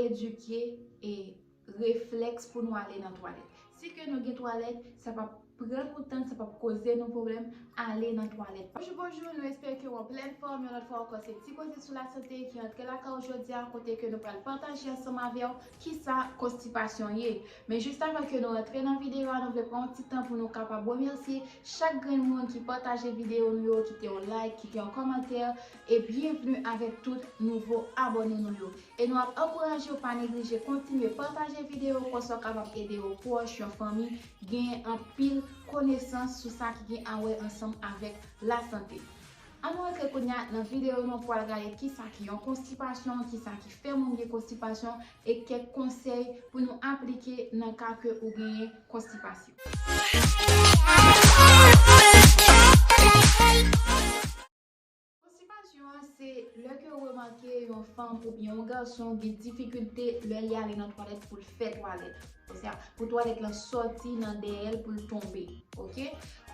edike e reflèks pou nou ale nan twalèt. Si ke nou gen twalèt, sa pap pran nou tan, sa pap koze nou pwoblèm ale nan twalèt. Bonjou bonjou, nou espere ke ou an plèn fòm, yon lòt fwa ankò se ti koze sou la sante ki antre lakay ou jodi a, kote ke nou pral pataje ansanm avè ou kisa konstipasyon ye. Men jis avan ke nou antre nan videyo a, nou vle pran yon ti tan pou nou kapab remèsye chak grenn moun ki pataje videyo nou yo, kite yon like, kite yon kòmantè, E byenvni avèk tout nouvo abòne nou yo. E nou ap ankouraje w pa neglije kontinye pataje videyo konsa w kapab ede yon pwòch, yon fanmi genyen anpil konesans sou sa ki gen awè ansanm avèk lasante. An nou antre kounya nan videyo nou pou al gade kisa ki yon konstipasyon, kisa ki fè moun gen konstipasyon e kèk konsèy pou nou aplike nan ka ke ou genyen konstipasyon. Konstipasyon an se lè ke ou remake yon fanm oubyen yon gason gen difikilte lè li ale nan twalèt pou l fè twalèt. Osea pou twalèt lan sòti nan dèyè l pou l tonbe. Ok.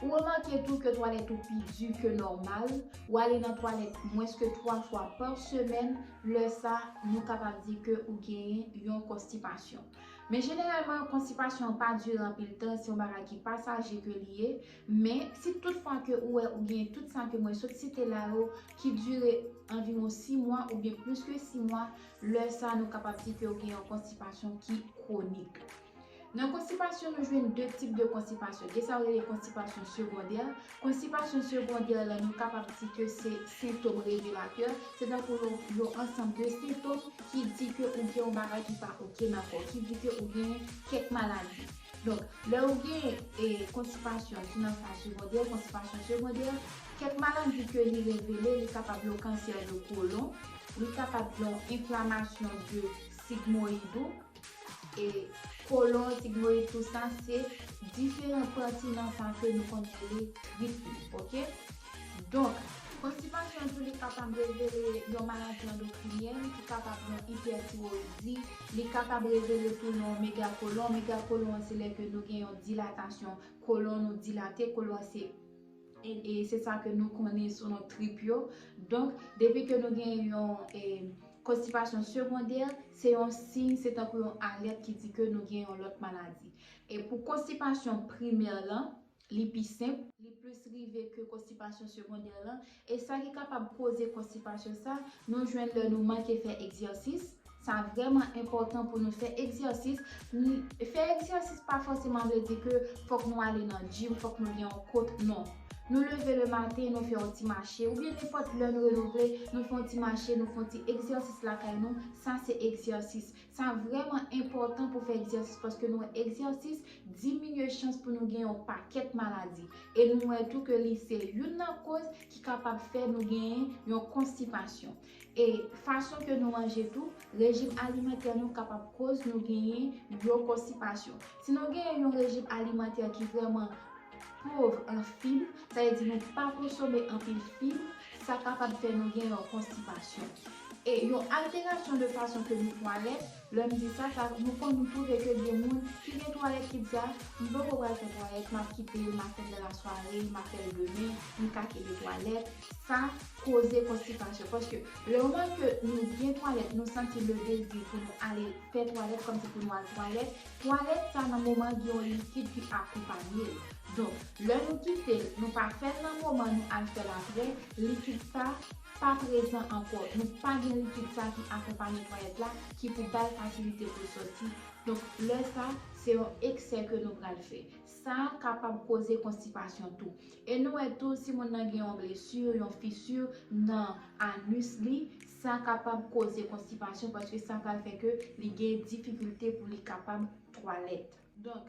Ou remake tou ke twalèt ou pi di ke nòmal, ou ale nan twalèt mwens ke 3 fwa pa semèn, lè sa nou kapab di ke ou genyen yon konstipasyon. Men jeneralman konstipasyon an pa dire anpil tan, se yon bagay ki pasaje ke li ye, Men, si tout fwa ke ou wè ou genyen tout sa ke mwen sot site la yo ki dire anviwon 6 mwa oubyen plis ke 6 mwa, lè sa nou kapab di ke ou gen yon konstipasyon ki kwonik. Nan konstipasyon nou jwenn 2 tip de konstipasyon, gen sa yo rele konstipasyon segondè, konstipasyon segondè la nou kapab di ke se sentom revelatè, se tankou yon ansanm de sentom ki di ke ou gen yon bagay ki pa ok nan kò, ki di ke ou genyen kèk maladi. Donk, lè ou gen konstipasyon ki nan faz segondè, konstipasyon segondè, kèk maladi ke li revele, li kapab yon kansè de kolon, li kapab yon enflamasyon de sigmoyid ou, e kolon, sigmoyid, tou sa se diferan pati nan sa ke nou konn rele trip li, ok? Donk, konstipasyon tou li kapab revele yon maladi andokrinyèn ki kapab yon ipètiroyidi, Li kapab revele tou non megakolon, megakolon an se lè ke nou gen yon dilatasyon kolon nou dilate, kolon an se e se sa ke nou konnen sou non trip yo, donk depi ke nou gen yon e konstipasyon segondè se yon siy se tankou yon alèt ki di ke nou gen yon lòt maladi e pou konstipasyon primè lan Li pi senp, li plis rive ke konstipasyon segondè lan, e sa ki kapab koze konstipasyon sa, nou jwenn lè nou manke fè egzèsis, sa vrèman enpòtan pou nou fè egzèsis, fè egzèsis pa fòseman vle di ke fòk nou ale nan gym, fòk nou gen yon kot, non. Nou leve le maten, nou fè yon ti mache, oubyen nenpòt lè nou renouvle, nou fè yon ti mache, nou fè yon ti egzèsis lakay nou, sa se egzèsis. Sa vrèman enpòtan pou fè egzèsis paske nou wè egzèsis diminye chans pou nou gen yon pakèt maladi. E nou wè tou ke li se youn nan koz ki kapab fè nou gen yon konstipasyon. E fason ke nou manje tou, rejim alimantè nou kapab koz nou genyen yon konstipasyon. Si nou genyen yon rejim alimantè ki vrèman pov an fib, sa vle di nou pa konsome anpil fib, sa kapab fè nou gen yon konstipasyon. E yon alterasyon de fason ke nou twalèt, lè m di sa, sa nou konn nou twouve ke gen moun ki gen twalèt ki di a, m poko pral fè twalèt, m ap kite l, m ap fè l nan lasware, m ap fè l demen, m ka kite twalèt. Sa koze konstipasyon paske le moman ke nou gen twalèt, nou santi le dezi pou nou ale fè twalèt, kòmsi pou nou al twalèt, Twalèt sa nan moman gen yon likid ki akonpanye l. Donk, lè nou kite l, nou pa fè l nan moman nou al fè l aprè, likid sa pa prezan ankò, nou pa gen likid sa ki akonpanye twalèt la ki pou ba l fasilite pou l sòti. Donk, lè sa, se yon eksè ke nou pral fè. Sa kapab koze konstipasyon tou. E nou wè tou si moun nan gen yon blesur, yon fissure nan anus li, Sa kapab koze konstipasyon paske sa pral fè ke li gen difikilte pou li kapab twalèt. Donk,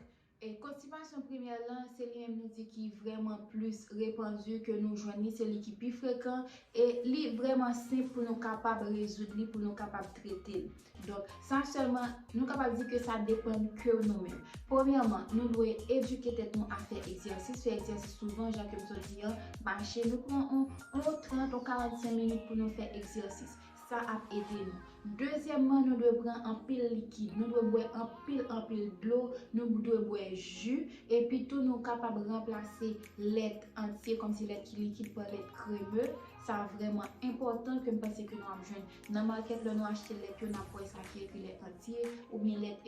konstipasyon premè lan, se li menm nou di ki vrèman plis repandu, ke nou jwenn li, se li ki pi frekan, e li vrèman senp pou nou kapab rezoud li, pou nou kapab trete li. Donk, sa sèlman, nou kapab di ke sa depann ke nou menm. Premyèman, nou dwe edike tèt nou a fè egzèsis, fè egzèsis souvan, jan ke m sot di an, mache, nou pran yon 30, yon 45 minit pou nou fè egzèsis. Sa ap ede nou. Dezyèmman, nou dwe pran anpil likid. Nou dwe bwè anpil, anpil dlo, nou dwe bwè ji, epi tou nou kapab ranplase lèt antye, kòmsi lèt ki likid, pa lèt kreme. Sa vrèman enpòtan ke m panse ke nou ap jwenn Nan market lè nou achte lèt yo nap wè sa ki ekri lèt antye ou byen lèt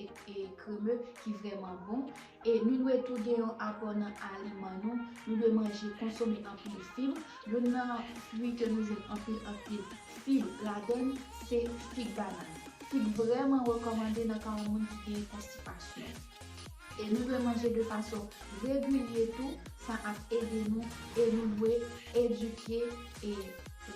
kreme ki vrèman bon e nou dwe tou gen yon apò nan aliman nou, nou dwe manje konsome anpil fib, youn nan fwi ke nou jwenn anpil anpil fib ladann se fig banan. Fig vrèman rekòmande nan ka yon moun ki gen konstipasyon e nou dwe manje de fason regilye tou sa ap ede nou e nou dwe edike E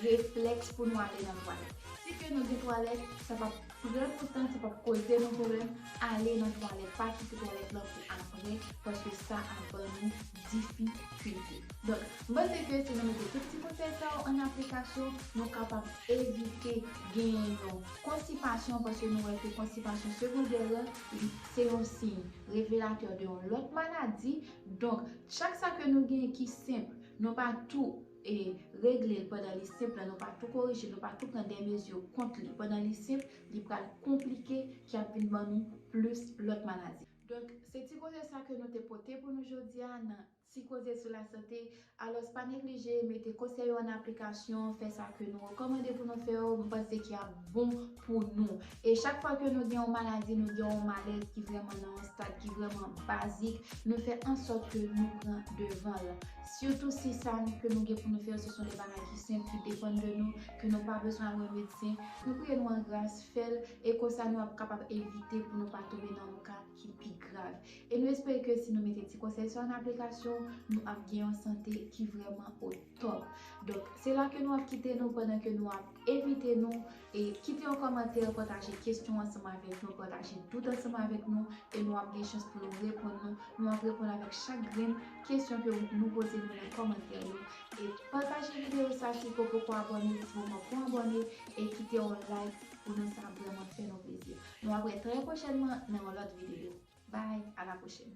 reflèks pou nou ale nan twalèt. Si ke nou gen twalèt, sa p ap pran nou tan, sa p ap koze nou pwoblèm, ale nan twalèt. Pa kite twalèt lan pou apre, paske sa ap ban nou difikilte. Donk, m panse ke si nou mete tout ti konsèy sa yo ann aplikasyon, nou kapab evite genyen yon konstipasyon, paske nou wè ke konstipasyon segondè lan, li se yon siy revelatè de yon lòt maladi. Donk, chak sa ke nou genyen ki senp, nou pa tou. e regle l pandan li senp la nou pa tou korije l nou pa tou pran de mezi kont li pandan li senp li pral konplike ki ap vin ban nou plis lòt maladi. Donk se ti koze sa ke nou te pote pou nou jodi a nan ti koze sou lasante alòs pa neglije mete konsèy yo an aplikasyon fè sa ke nou rekòmande pou nou fè yo m panse ki ap bon pou nou. E chak fwa ke nou gen yon maladi, nou gen yon malèz ki vrèman nan yon stad ki vrèman bazik, nou fè ansòt ke nou pran devan l. Sitou si sa ke nou gen pou nou fè yo se son de bagay ki senp, ki depann de nou, ke nou pa bezwen al wè medsen, nou priye nou an gras fè l, e konsa nou ap kapab evite pou nou pa tonbe nan yon ka ki pi grav. E nou espere ke si nou mete ti konsèy sa yo an aplikasyon, nou ap gen yon sante ki vrèman o. Top. Donk, se la ke nou ap kite nou pandan ke nou ap envite nou e kite yon kòmantè, pataje kesyon ansanm avèk nou, pataje dout ansanm avèk nou e nou ap gen chans pou nou reponn nou. Nou ap reponn avèk chak grenn kesyon ke nou poze nou nan kòmantè yo. E pataje videyo sa si ke w poko abòne, di bon mwen pran abòne e kite yon like pou nou sa vrèman fè nou plezi. Nou ap wè trè pwochènman nan yon lòt videyo. Bye, a la pwochèn!